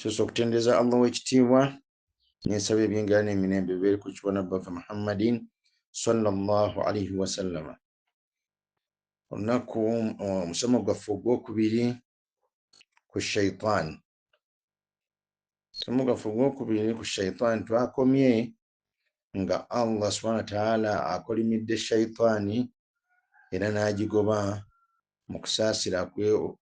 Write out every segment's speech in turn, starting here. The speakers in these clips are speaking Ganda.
sosa okutendereza allah w'ekitiibwa nensaba ebyengera n'emirembe bibeere ku kibona bbaffe muhammadin salllah alaihi wasallama olunaku omusomo gwaffe ogwokubiri ku shaitan omusomo gwaffe ogwokubiri ku shaitan twakomye nga allah subhana wataala akolimidde shaitaani era n'agigoba mu kusaasira kwe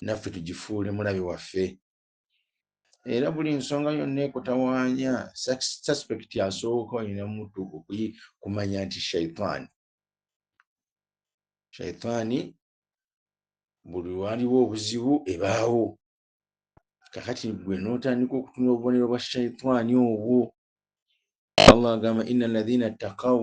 naffe tugifuule mulabe waffe era buli nsonga yonna ekutawaanya suspect asooka olina mutu kumanya nti shaitaani shaitaani buli waliwo obuzibu ebaawo kakati gwe notandika okutuna obubonero bwa shaitaani obwo allah agamba ina alladhina ttakau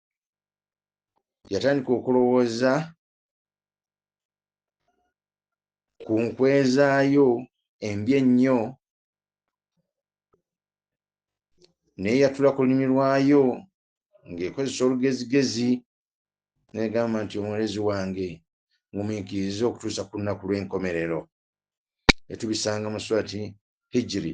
yatandika okulowooza ku nkwezaayo embi ennyo naye yatula ku lulimi lwayo ng'ekozesa olugezigezi negamba nti omulezi wange ngumiikiriza okutuusa ku lunaku lw'enkomerero etubisanga mu swati hijiri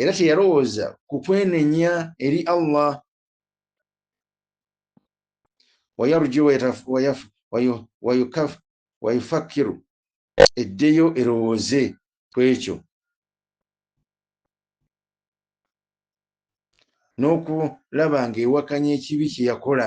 era teyalowooza ku kwenenya eri allah wayarju wayufakiru eddeyo erowooze ku ekyo n'okulaba ng'ewakanya ekibi kye yakola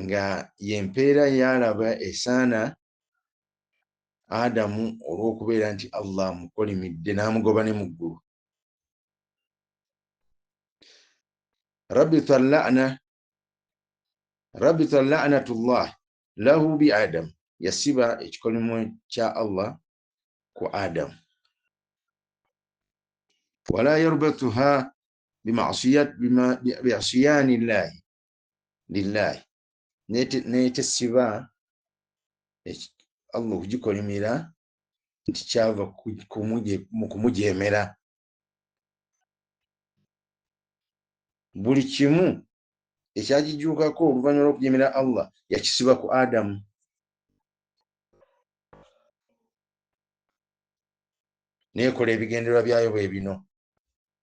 nga yempeera yaalaba esaana adamu olw'okubeera nti allah amukolimidde n'amugoba ne mu ggulu rabbi tallana rabbi tallanatullah lahu bi adamu yasiba ekikolimo kya allah ku adamu wala yarbatuha biasiyaani llaahi lillaahi naye tesiba allah okugikolimira nti kyava mu kumujeemera buli kimu ekyagijuukako oluvannyuma lw'okujeemera allah yakisiba ku adamu neekola ebigendererwa byayo bwe bino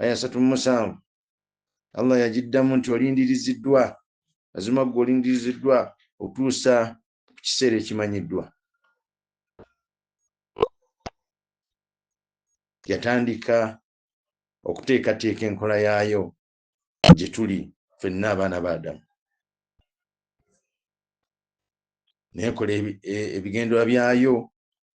aya asatu mu musanvu allah yagiddamu nti olindiriziddwa mazima ggwe olindiriziddwa okutuusa ku kiseera ekimanyiddwa yatandika okuteekateeka enkola yaayo gye tuli fenna abaana ba adamu nekola e, ebigenderwa byayo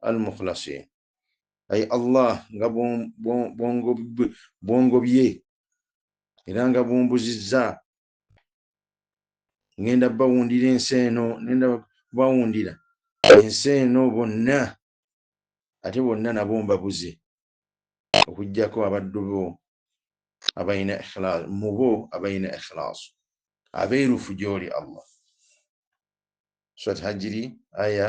al mukhlasin ayi allah nga bwongobye era nga bumbuzizza ngenda bawundira ensi eno nenda bawundira ensi eno bonna ate bonna nabo mbabuze okugyako abaddu bo abalina ikhlas mubo abalina ikhlasu abeerufu gyoli allah swat hajiri aya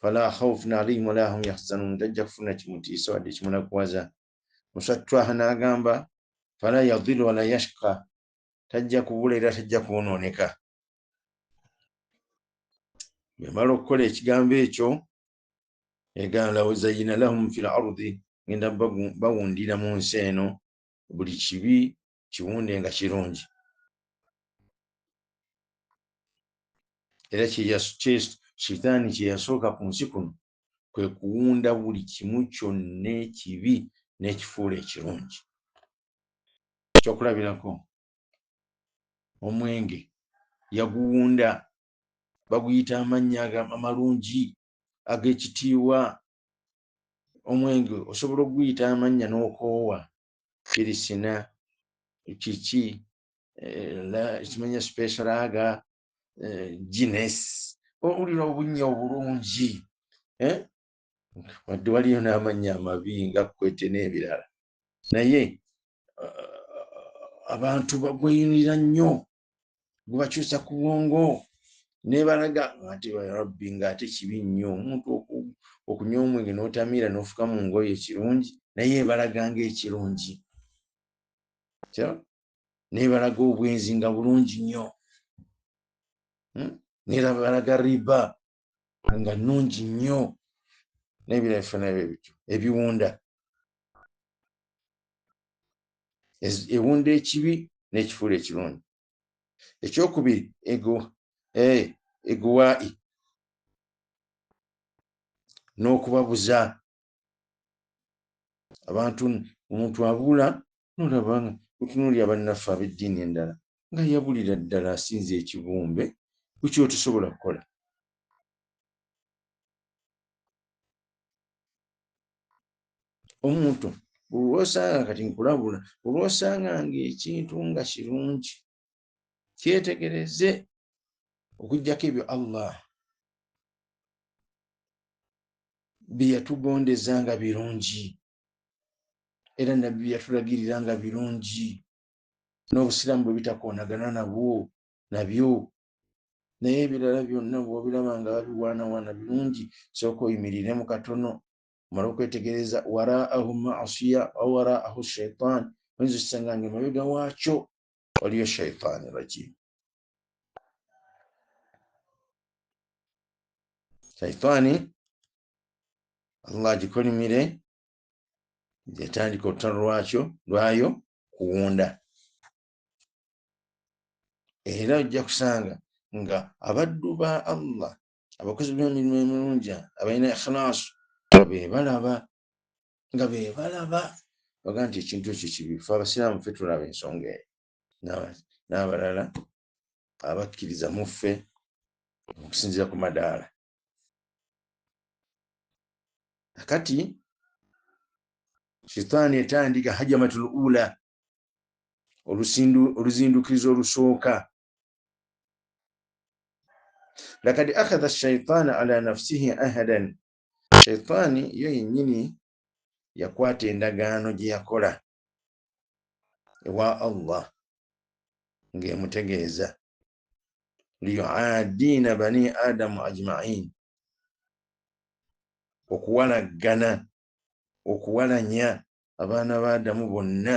Fala khawfun alaihim wala hum yahzanun, tajja kufuna kimutiisa wadde kimunakuwaza. Muswat Twaha n'agamba fala yadhillu wala yashqa, tajja kubula era tajja kwonooneka. Bwemala okukola ekigambo ekyo egana law zayyina lahum fil ardi, ngenda bawundira mu nsi eno buli kibi kiwunde nga kirungi era shitaani kyeyasooka ku nsi kuno kwe kuwunda buli kimu kyonna ekibi n'ekifuula ekirungi ekyokulabirako omwenge yaguwunda baguyita amannya amalungi ag'ekitiibwa omwenge osobola okuguyita amannya n'okoowa firisina kiki eh, kimanya spesraga eh, gines owulira obunya obulungi eh? wadde waliyo n'amannya amabi nga kwete n'ebirala naye abantu bagweyunira nnyo gubakyusa ku bwongo nebalaga ati rabbi ngaate kibi nnyo omuntu okunywa omwenge n'otamiira n'ofuka mu ngoyo ekirungi naye ebalaga ngaekirungi nebalaga obwenzi nga bulungi nnyo hmm? nerabalaga riba nga nnungi nnyo n'ebira ebifanana bye bityo ebiwunda ewunda ekibi n'ekifuula ekirungi ekyokubiri eguwai eh, n'okubabuza abantu omuntu abula nolaba nga otunuulira bannaffe ab'eddiini endala nga yabulira ddala asinza ekibumbe ku kyotusobola kukola omuntu olwosanga kati nkulabula olwosanga ngaekintu nga kirungi kyetegereze okujjako ebyo allah byeyatugondeza nga birungi era nabbi byeyatulagirira nga birungi n'obusiraamu bwe bitakoonagana nabwo nabyo naye ebirala byonna bwobiraba nga babiwaanawaana birungi sooka oyimiriremu katono omala okwetegereza waraahu masiya awaraahu shaitan oyinza osanga nga emabega waakyo waliyo shaitaani rajim shaitaani allah agikolimire yatandika olutalo lwakyo lwayo kuwunda era ojja kusanga nga abaddu ba allah abakozi b'emirimu emirungi abalina ikhlaasu be balaba nga bebalaba baga nti ekintu ekyo kibi fe abasiraamu fe tulaba ensonga eyo n'abalala abakkiriza mu ffe okusinzira ku madaala akati shitaani etandika hajamatul ula oluzindukiriza olusooka lakad akhadha shaitaana ala nafsihi ahadan shaitaani yo yennyini yakwata endagaano gye yakola ewa allah ng'emutegeeza liyuadiina bani adamu ajmain okuwalaggana okuwalanya abaana ba adamu bonna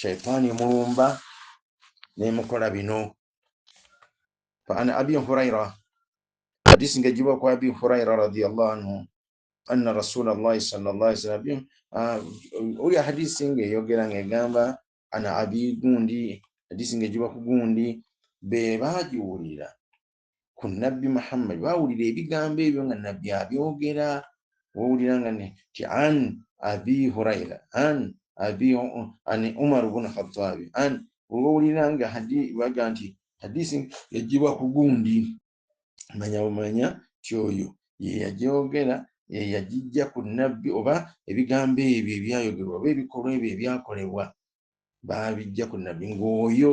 shaitaani emulumba nemukola bino faana abi huraira hadisi nga ejiba ku abi huraira radiallahu anhu anna rasula llahi sallam ah, oyo hadisi nga eyogera nga egamba ana abi gundi hadisi nga ejiba ku gundi bebagiwulira ku nabbi muhammad bawulira ebigambo ebyo nga nabbi abyogera wawulira nga nti an abi huraira an abi ani umaru bun khattabi an wawulira nga hadi baga nti hadisi yajibwa ku gundi manya bumanya ti oyo yeyagyogera yeyagijja ku nabbi oba ebigambo ebyo ebyayogerwa oba ebikolwa ebyo ebyakolebwa babijja ku nabbi ngaoyo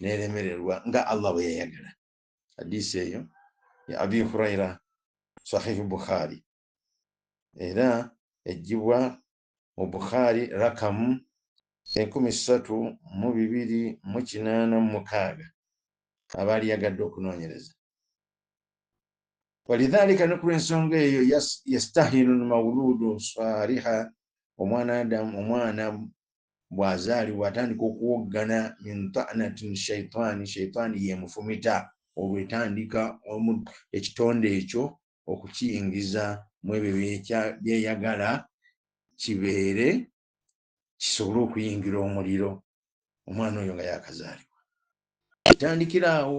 neremererwa nga allah bwe yayagala hadisi eyo ya abi huraira sahihi bukhari era ejjibwa mu bukhari rakamu enkumi ssatu mu bibiri mu kinaana mu mukaaga abaali yagadde okunoonyereza walidhalika ne ku lw'ensonga eyo yastahinu lmawuludu saliha omwana adamu omwana bw'azaalibwa atandika okuwoggana min ta'natin shaitaani shaitaani y'emufumita olwo etandika ekitonde ekyo okukiyingiza mu ebyo byeyagala kibeere kisobole okuyingira omuliro omwana oyo nga yakazaalibwa etandikira awo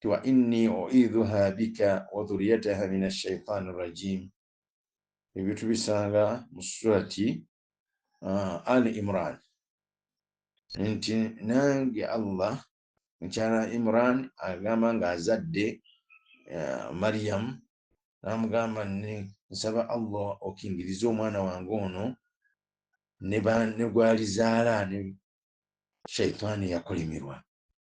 ti wa inni uidhuha bika wa dhuriyataha min ashaitani rajim ebyo tubisanga mu surati uh, al imran nti nange allah mukyala imran agamba nga azadde uh, mariyamu namugamba nsaba allah okingiriza omwana wange ono ne gwalizaala ne shaitaani yakolemerwa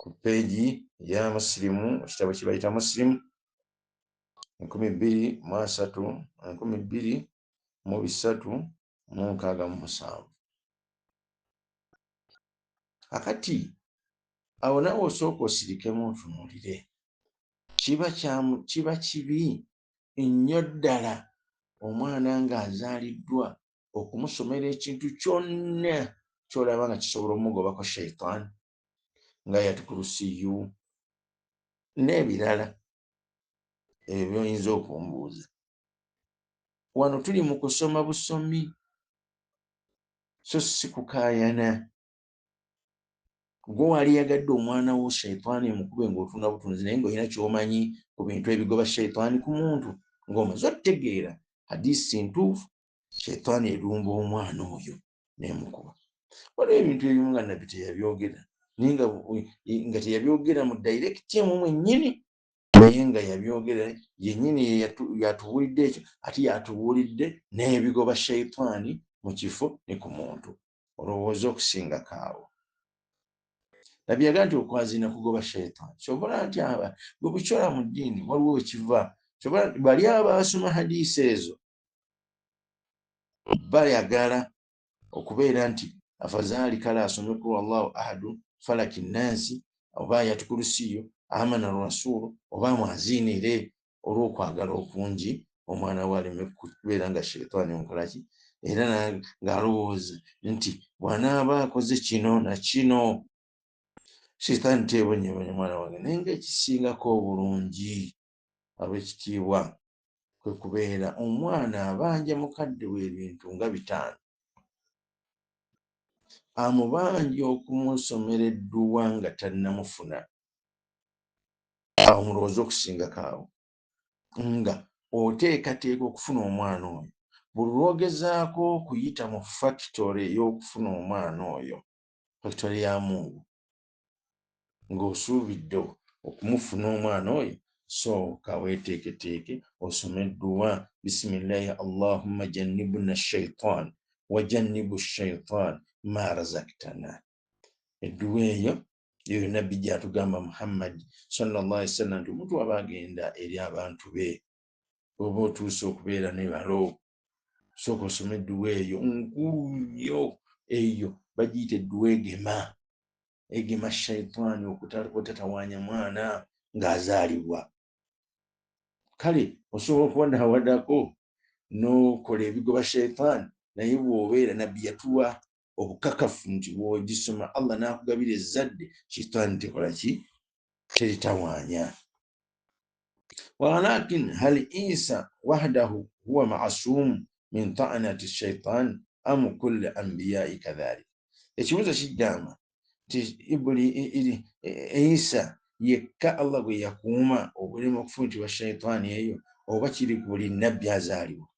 ku peegi ya musirimu ekitabo kye bayita musirimu enkumi bbiri mu asatu enkumi bbiri mu bisatu mu nkaaga mu musanvu akati awo nawe osooka osirikemu ntunuulire kiba kyamu kiba kibi nnyo ddala omwana ng'azaaliddwa okumusomera ekintu kyonna kyolaba nga kisobola omugobako shaitan nga yatukulusiyu n'ebirala ebyo byoyinza okumbuuza wano tuli mu kusoma busomi so si kukayana gwe wali yagadde omwana wo shaitaani emukube ngaotunda butunzi naye ngaolina kyomanyi ku bintu ebigoba shaitaani ku muntu ngaomaze otutegeera hadisi ntuufu shetani erumba omwana oyo nemukuba waliwo ebintu ebimu nga nabbi teyabyogera naye nga teyabyogera mu direct emu mwenyini naye nga yabyogera yenyini yatubuulidde ekyo ate yatubuulidde n'ebigoba shaitaani mu kifo ne ku muntu olowooza okusinga kaawo nabbi yaga nti okwazina kugoba shaitaani kyobola nti aba gwe bukyora mu ddiini waliwo wekiva kyobola bali abaasoma hadiisi ezo bayagala okubeera nti afazaali kale asome kulu allahu ahadu falaki nansi oba ayati kulusiyo amana rasulu oba mwaziinire olw'okwagala okungi omwana we aleme kubeera nga sheitaani omukolaki era ng'alowooza nti bw'anaaba akoze kino na kino sheitaani teebonyebonye mwana wange naye ngaekisingako obulungi abekitiibwa kwe kubeera omwana abanja mukadde we ebintu nga bitaano amubanja okumusomera edduwa nga tannamufuna awo mulowooza okusingako awo nga oteekateeka okufuna omwana oyo buli lwogezaako okuyita mu fakitole ey'okufuna omwana oyo fakitole ya mungu ng'osuubidde okumufuna omwana oyo sooka weeteeketeeke osome dduwa bisimillahi allahumma jannibuna shaitan wa jannibu shaitan ma razaktana edduwa eyo yoyo nabbi gyatugamba muhammadi sallallah ali sallam nti omuntu aba agenda eri abantu be oba otuuse okubeera ne balo sooka osoma edduwa eyo nkulu nnyo eyo bagiyita edduwa egema egema shaitaani okutatawanya mwana ng'azaalibwa kale osobola okuba nawadako n'okola ebigoba shaitaani naye bw'obeera nabbi yatuwa obukakafu nti bwogisoma allah nakugabira ezzadde shitaani tekola ki teritawanya walakin hal isa wahdahu huwa masumu min taanati shaitan am kulli anbiyai kadhalik ekibuzo kigamba nti isa yekka allah gwe yakuuma obulema okufumitibwa shaitaani eyo oba kiri ku buli nabbi azaalibwa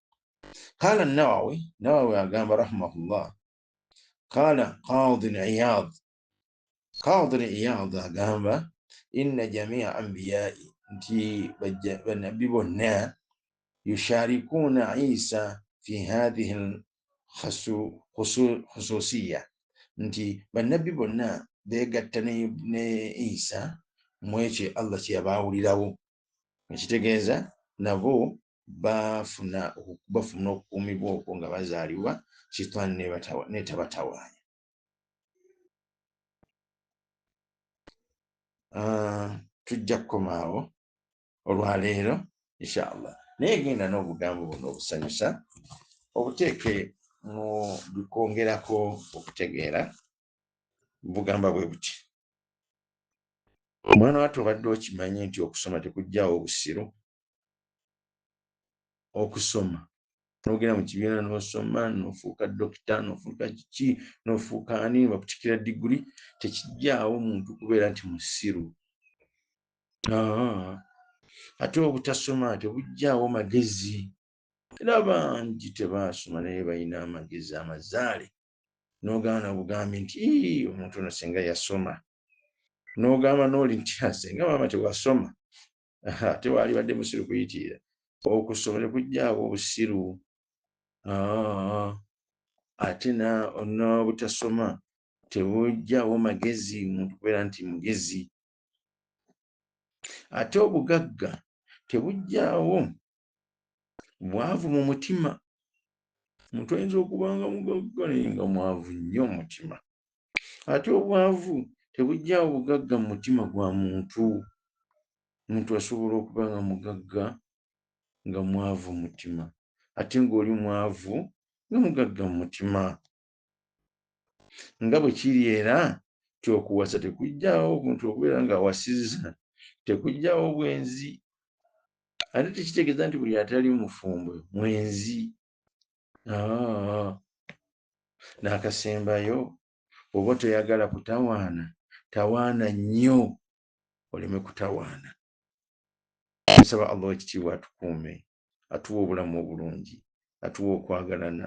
kala nawawi nawawi agamba rahimahullah kala qadi iyad qadi iyad agamba inna jamia ambiyai nti banabbi bonna yusharikuuna isa fi hadhihi lkhususiya nti banabbi bonna begatta ne isa mwekyo allah kyeyabaawulirawo ekitegeeza nabo bafuna bafuna okukuumibwa okwo nga bazaalibwa shitaani netabatawaanya ah, tujja kukomaawo olwaleero inshallah naye genda n'obugambo buno obusanyusa obuteeke mu bikwongerako okutegeera bugamba bwe buti omwana watu obadde okimanyi nti okusoma tekugjawo obusiru okusoma nogenda mu kibiina nosoma nofuuka dokita nofuuka kiki nofuuka ani bakutikira diguli tekijjaawo muntu kubeera nti musiru ate obutasoma tebujjaawo magezi era bangi tebaasoma naye balina amagezi amazaale nogana bugambi nti omuntu ono singa yasoma nogamba noli nti asinga maama tewasoma ate waalibadde musiru kuyitiira okwo ssoma ne kujjaawo obusiru ah, ate n'obutasoma tebujjawo magezi omuntu kubeera nti mugezi ate obugagga tebujjawo mwavu mu mutima omuntu ayinza okubanga mugagga naye nga mwavu nnyo omutima ate obwavu tebugyawo bugagga mu mutima gwa muntu omuntu asobola okuba nga mugagga nga mwavu mutima ate ngaoli mwavu nga mugagga mu mutima nga bwe kiri era nti okuwasa tekugyawo omuntu okubeera ng'awasizza tekugyawo bwenzi ate tekitegeeza nti buli atali mufumbo mwenzi ah. n'akasembayo oba toyagala kutawaana tawaana nnyo oleme kutawaana nsaba allah wekitiibwa atukuume atuwa obulamu obulungi atuwa okwagalana